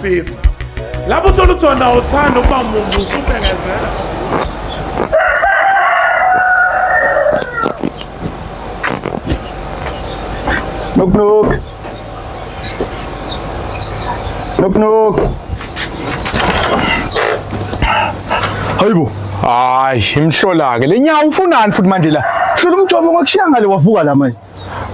Sisi. Lapho uthola ukuthi wena awuthandi ukuba muntu usubengezela. Knock knock. Knock knock. Hayibo. Hayi, imhlola ke. Lenyawo ufunani futhi manje la? Hlola umjovo ngakushiyanga le wavuka la manje.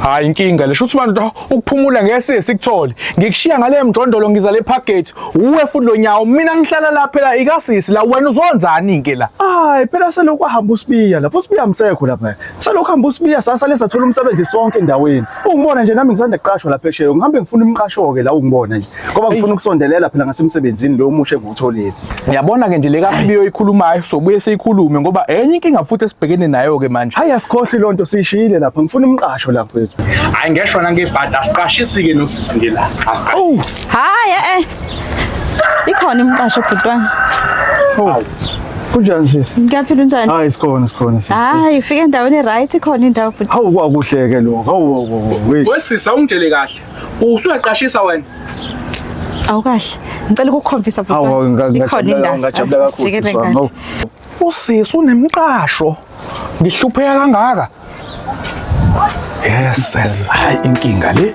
Hayi inkinga le shuthi bantu ukuphumula ngese sikuthole. Ngikushiya ngale mjondolo ngiza le package. Uwe futhi lo nyawo mina ngihlala la phela ikasisi la wena uzonzani ke la. Hayi phela selokhu ahamba usibiya lapho usibiya msekho lapha. Selokhu hamba usibiya sasa lesa thola umsebenzi sonke endaweni. Ungibona nje nami ngisanda kuqashwa lapha esheyo ngihambe ngifuna umqasho ke la ungibona nje. Ngoba ngifuna ukusondelela phela ngasemsebenzini lo omusha engiwutholile. Ngiyabona ke nje le kasibiyo ikhulumayo sobuye siyikhulume ngoba enye inkinga futhi esibhekene nayo ke manje. Hayi asikhohli lonto sishiyile lapha ngifuna umqasho lapha kwethu. Hayi ngeshwa nangebhadi asiqashisi ke nosisi nje la. Asiqashisi. Hayi eh, eh. Ikhona imqasho bhuti wami. Oh. Kunjani sisi? Ngiyaphila unjani? Hayi sikhona sikhona sisi. Hayi ufike endaweni right ikhona indawo bhuti. Hawu kwakuhleke lokho. Hawu hawu hawu. Wesisi awungitshele kahle. Usuyaqashisa wena. Awukahle. Ngicela ukukukhomfisa baba. Awu ikhona indawo. Ngajabula kakhulu. Usisi unemqasho. Ngihlupheka kangaka. Yes, yes. Hayi inkinga le.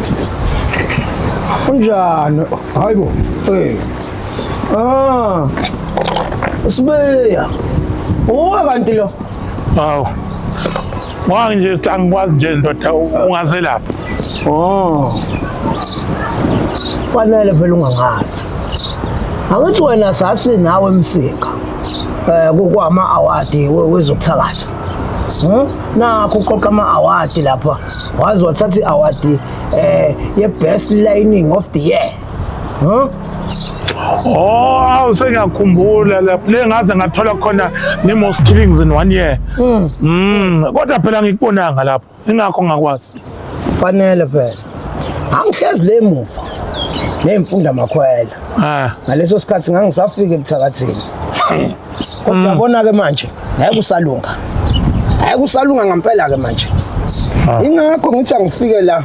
Unjani? Hayi bo. Eh. Ah. Sibeya. Uwa kanti lo. Hawu. Wang nje ukuthi angikwazi nje ndoda ungazelapha. Oh. Fanele phela ungangazi. Angithi wena sasi nawe emsika. Eh kukwama award wezokuthakatha. nakho uqoqa ama-awadi lapha waze wathatha i-awadi um eh, ye-best lining of the year huh? Oh, awu sengiyakhumbula lapho le ngaze ngathola khona ne-most killings in one year mm. Mm. kodwa phela ngikubonanga lapho ingakho ngakwazi fanele phela angihlezi le muva neyimfunda makhwela ah ngaleso sikhathi ngangisafika ebuthakathini kodwa mm. yabona ke manje ngeke usalunga ngeke usalunga ngempela ke manje ah. ingakho ngithi angifike la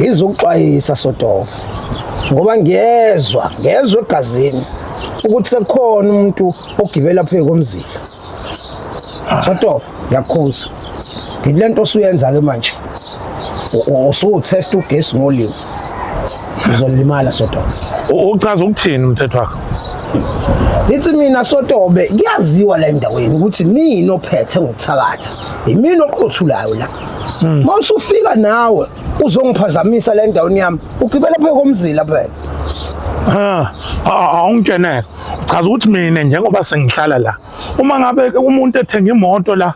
ngizokuxwayisa sodoka ngoba ngiyezwa ngezwe egazini ukuthi sekukhona umuntu ogibela phezu komzila sodoka ngiyakukhuza ngile nto osuyenza ke manje usuwuthesta ugesi ngolimi uzolimala sotobe uchaza ukuthini umthetho wakho lithi mina sotobe kuyaziwa la endaweni ukuthi mina ophethe ngokuthakatha yimina oqothulayo la hmm. uma usufika nawe uzongiphazamisa la endaweni yami ugibela phe komzila phela ha awungitshene uchaza ukuthi mina njengoba sengihlala la uma ngabe umuntu ethenga imoto la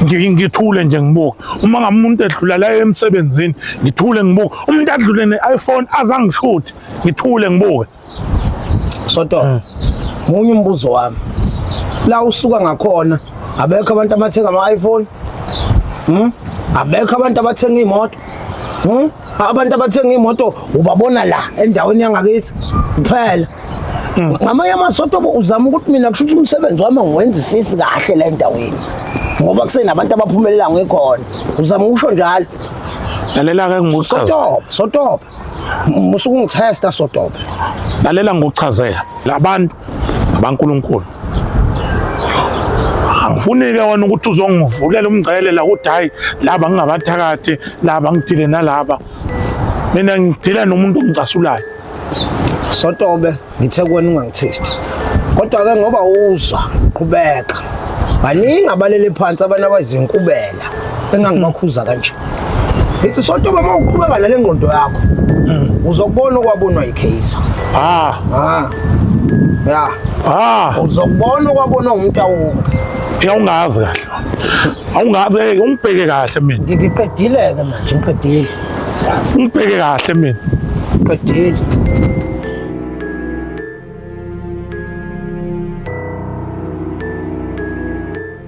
ngithule nje ngibuke uma ngabe umuntu edlula la emsebenzini ngithule ngibuke umuntu adlule ne-iphone azangishuthi ngithule ngibuke soto eh. munye umbuzo wami la usuka ngakhona abekho abantu abathenga ama-iphone hmm? abekho abantu abathenga iy'moto hmm? abantu abathenga imoto ubabona la endaweni yangakithi kuphela hmm. ngamanye amasoto uzama ukuthi mina kusho ukuthi umsebenzi wami ngiwenzisisi kahle la endaweni ngoba kusenabantu abaphumelela ngikhona uzama ukusho njalo lalela ke ngikuchaza sotoba sotoba musuke ungithesta sotoba lalela ngikuchazela labantu abankulunkulu angifunike wena ukuthi uzongivulela umngcele la ukuthi hayi laba ngingabathakathi laba ngidile nalaba mina ngidila nomuntu ongicasulayo sotobe ngithe kuwena ungangithesti kodwa-ke ngoba uzwa qhubeka baningi abalele phansi abantu abazinkubela engangibakhuza kanje ngithi sonto uma uqhubeka nale ngqondo yakho uzokubona okwabonwa yikheyisa ah ah ya ah uzokubona okwabonwa umtawuka awungazi kahle awungabe ungibheke kahle mina ngiqedile ke manje ngiqedile ungibheke kahle mina ngiqedile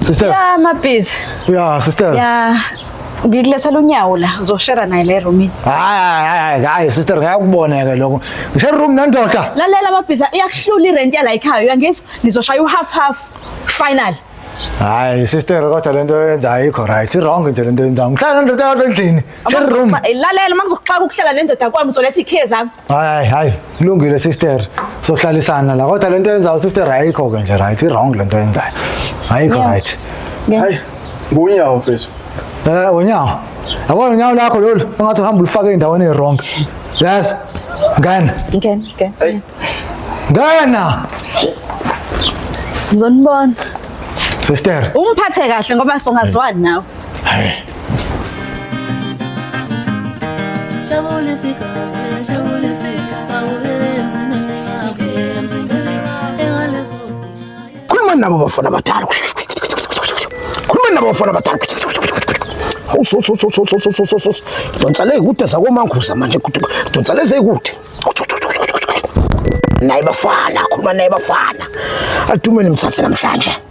Sister. Yeah, my busy. Yeah, sister. Yeah. Ngikulethela unyawo la, uzoshera naye le room. Hayi hayi hayi sister ngiyakubona ke lokho. Ngishare room nendoda. Lalela mabhiza iyakuhlula irent yala ekhaya uyangizwa? Nizoshaya uhalf half final. Hayi sister kodwa lento yenza ayikho right. Wrong nje lento yenza. Ngihlala nendoda yodwa endlini. Share room. Lalela makuzokuxaka ukuhlala nendoda kwami uzoletha ikhiye zami. hayi hayi kulungile sister sohlalisana la kodwa lento yenzayo sister ayikho ke nje right i-wrong lento yenzayo ayikho Yeah. right Yeah. hayi ngunyawo mfethu Eh, unyawo yabona unyawo lakho lolu engathi uhamba ulifake endaweni e-wrong yes ngena Ngena, ngena. Hey. ngena Ngizonibona. sister Ungiphathe kahle ngoba songazwani nawe. Khuluma nabo bafana abadala. Khuluma nabo bafana abadala. Awusososososososososos. Donsa le kude zakomanguza manje kude. Donsa le zekude. Naye bafana, khuluma naye bafana. Adume nimthathe namhlanje.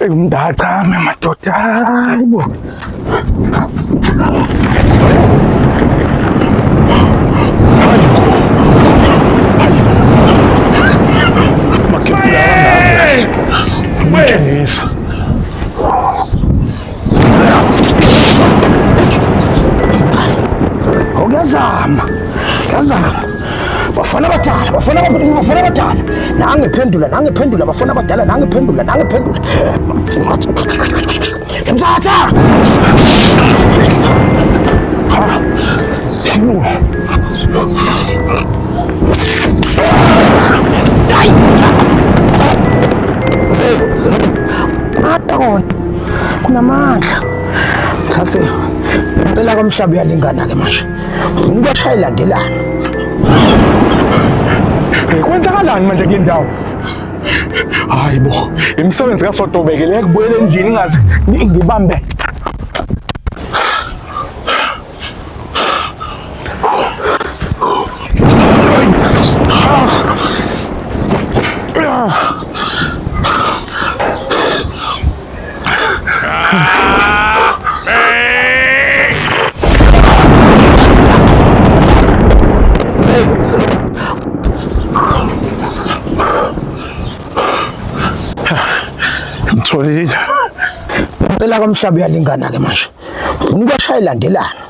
Eyi umndacame madoda hayi bo. Yazama. Yazama. bafana abadala bafana bafana abadala nange phendula nange phendula bafana abadala nange phendula nange phendula mthatha kunamandla mthathe impela komhlaba uyalingana-ke manje Ngibashaya ilandelana. Kwenzakalani manje kule ndawo? Hayi bo, imisebenzi kaSodobeke le kubuyela endlini ngaze ngibambe. Ngitholile. Ngicela komhlaba uyalingana ke manje. Ngifuna ubashaya ilandelana.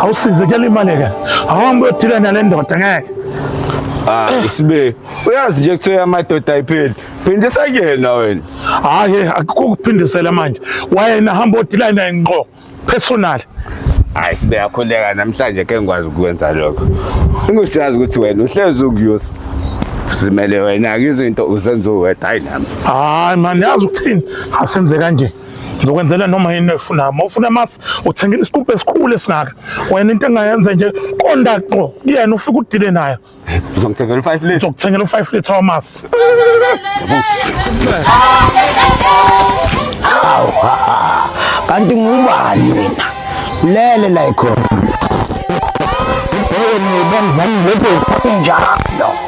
awusize kuyalimaleka awuhambe uyothile nale ndoda ngeke Ah, isibe. Uyazi nje kuthiwa amadoda ayipheli. Phindisa kuyena wena. Hayi, akukho kuphindisela manje. Wayena hamba odila naye ngqo personal. Hayi sibe yakhuleka namhlanje ke ngikwazi ukwenza lokho. Ingisiyazi ukuthi wena uhlezi ukuyusa. Zimele wena ke izinto uzenza uwedwa hayi nami. Hayi man, yazi ukuthini? Asenze kanje. Ngizokwenzela noma yini efuna. Uma ufuna amasi uthenga isikubhe esikhulu esingaka. Wena into engayenza nje konda qo kuyena ufike udile nayo. Uzongithengela u5 liter. Uzokuthengela u5 liter wamasi. Kanti ngubani wena? Lele la ikhona. Ngibona ngibona ngibona ngibona ngibona